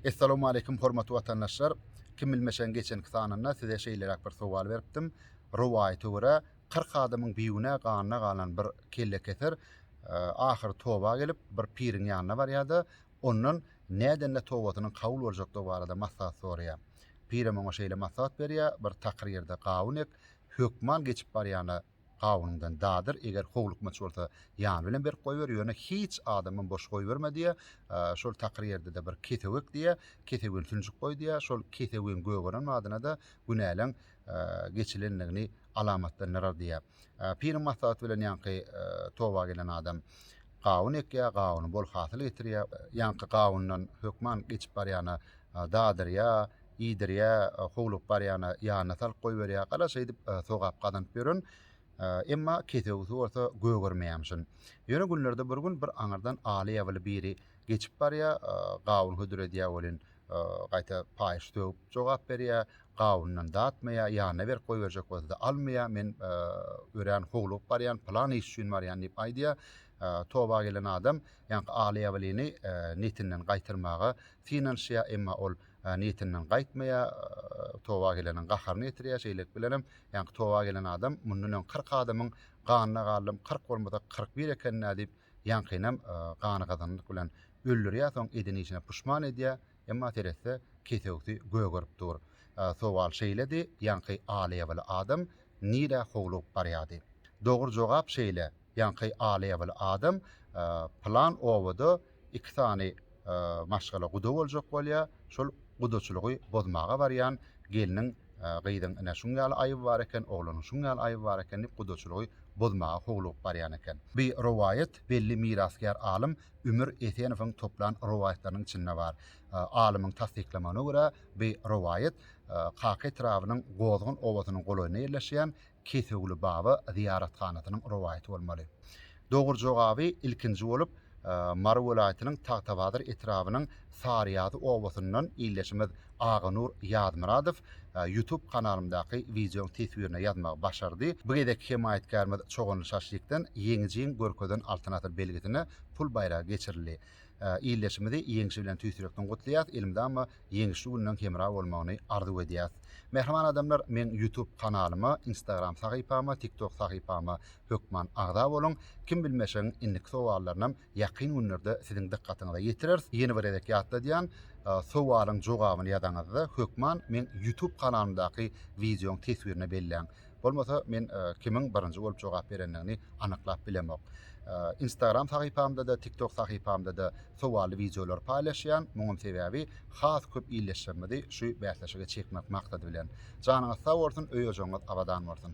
Essalawmaleýkim hormatly watandaşlar! Kim bilmeşegiň geçenki sanynda size şeýleräk bir sowal beripdim. Rowaýata görä, kyrk adamyň bigünä ganyna galan bir kellekeser ahyry toba gelip, bir piriň ýanyna barýar-da, ondan nädende tobasynyň kabul boljakdygy barada maslahat soraýar. Pirem oňa şeýle maslahat berýär, Bir takyr ýerde gawun ek, hökman geçip barýana, Gawundan dadyr, eger howlukmaç bolsa, ýany bilen berip goýber, ýöne hiç adamam boş goýberme diýýär. Şol takyr ýerde-de bir kesewek diýýär, kesewen sünjük goý diýýär. Şol kesewiň gögeren badyna-da günäleň geçilendigini alamatlandyrar diýýär. Piriň maslahaty bilen ýaňky toba gelen adam gawun ekýär, gawuny bol hasyl getirýär. Ýaňky gawundan hökman geçip barýana dadyrýar. iýdirýä, howlugyp barýana ýanyna salyp goýberýä, gara şeýdip sogap gazanyp ýören, emma kesewisi bolsa gögermeýämişin. Ýöne günlerde bir gün bir aňyrdan aly ýabyly biri geçip barýa, gawun hödür edýä welin, gaýta paýyş sögüp jogap berýä, gawundan datmaýa, ýanyna berip goýberjek bolsa-da almaýa, men örän howlugyp barýan, pylan iş üçin barýan diýip aýdýa. Toba gelen adam ýaňky aly ýabylyny netinden gaýtarmaga synanyşýa, emma ol niýetinden gaýtmaýar, toba geleniň gaharyny getirýär, şeýlelik bilenem, ýaňky toba gelen adam mundan öň kyrk adamyň ganyna galdym, kyrk bolmasa, kyrk bir eken-dä diýip, ýaňkynam gany gazananlyk bilen öldürýär, soň eden işine puşman edýär, emma seretse, kesewsi gögerip dur. Sowal şeýledi, ýaňky aly-ýabaly adam nirä howlugyp barýardy? Dogry jogap şeýle. ýaňky alyýabyly adam plan obada iki sany maşgala guda boljak bolýar, şol gudaçylygy bozmaga barýan gelniň, gyzyň ine şuň ýaly aýby bar eken, oglanyň şuň ýaly aýby bar eken diýip gudaçylygy bozmaga howlugyp barýan eken. Bu rowaýat belli mirasgär alym Ümür Esenowyň toplan rowaýatlarynyň içinde bar. Alymyň tassyklamagyna görä, bu rowaýat Kaka etrabynyň Gozgun obasynyň golaýynda ýerleşýän Kesewli baba zyýarathanasynyň rowaýaty bolmaly. Dogry jogaby ilkinji bolup Mary welaýatynyň Tagtabazar etrabynyň Saryýazy obasyndan ildeşimiz Aganur Ýazmyradow YouTube kanalymdaky wideoň teswirine ýazmagy başardy. Bu gezekki hemaýatkärimiz Çoganly Şaşlikden Ýeňijiň görkezen Altyn asyr belgisine pul baýragy geçirildi. Ildeşimizi ýeňşi bilen tüýs ýürekden gutlaýas, elmydama ýeňişli günleň hemra bolmagyny arzuw edýäs. Mähriban adamlar meň ýutub kanalyma, instagram sahypama, tiktok sahypama hökman agza boluň. Kim bilmeşegiň indiki sowallarynam ýakyn günlerde siziň dykgatyňyza ýetireris. Ýene bir gezek ýatladýan, sowalyň jogabyny ýazaňyzda hökman meň ýutub kanalymdaky wideoň teswirine belläň. Bolmasa men kimiň birinji bolup jogap berendigini anyklap bilemok. Instagram sahypamda-da, TikTok sahypamda-da sowally wideolary paýlaşýan. Muňuň sebäbi has köp ildeşlerimizi şu bäsleşige çekmek maksady bilen. Janyňyz sag bolsun, öý-ojagyňyz abadan bolsun!